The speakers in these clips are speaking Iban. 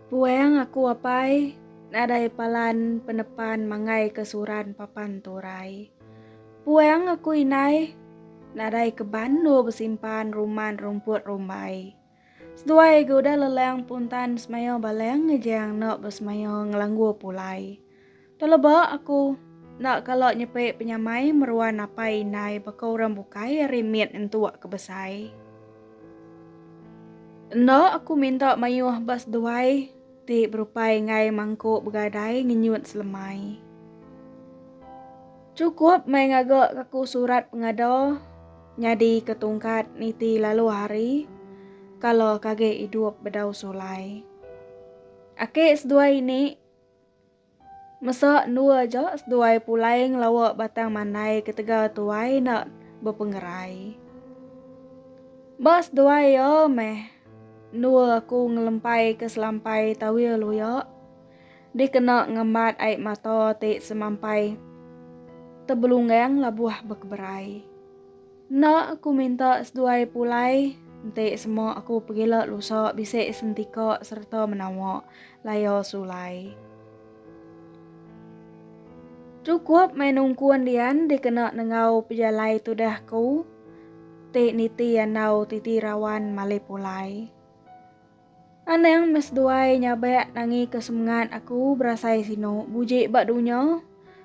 Puang aku apai nadai palan penepan manggai ke suran papan turai. Puang aku indai nadai ke bandu besimpan ruman rumput rumbai. Seduai ge udah lelang puntan semayo balang ngejang eno besemaya ngelanggu pulai. Teleba aku enda kala nyepi penyamai meruan apai indai baka orang bukai ari mit entuk ke besai. Enda aku minta mayuh ba seduai ti berupai enggai mangkuk begadai ngenyut selemai. Chukup meh ngaga ke aku surat pengada nyadi ke tungkat niti lalu hari kala kage idup bedau sulai. Ake seduai ini. Mesa endur aja seduai pulai ngelawa batang mandai ketegal tuai enda bepengerai. Ba seduai iya meh endur aku ngelempaika selampai tawil uya dikena ngembat ai mata ti semampai tebelunggang labuh bekeberai. Enda aku minta seduai pulai, enti sema aku pegila lusa bisi sentika sereta menawa laya sulai. Chukup meh nungkun dian dikena nenggau pejalai tudah ku ti niti andau titi rawan malih pulai. Anang meh seduai nyabak nangi ke semengat aku berasai sinu bujik ba dunya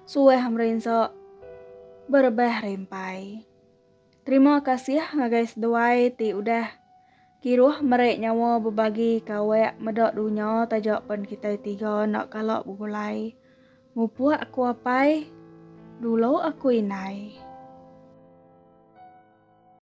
suah merinsa berebah rempai. Terima kasih ngagai seduai ti udah kiruh meri nyawa bebagi ke awak meda dunya taja pen kitai tiga enda kala begulai. Mupuk aku apai, dulu aku indai.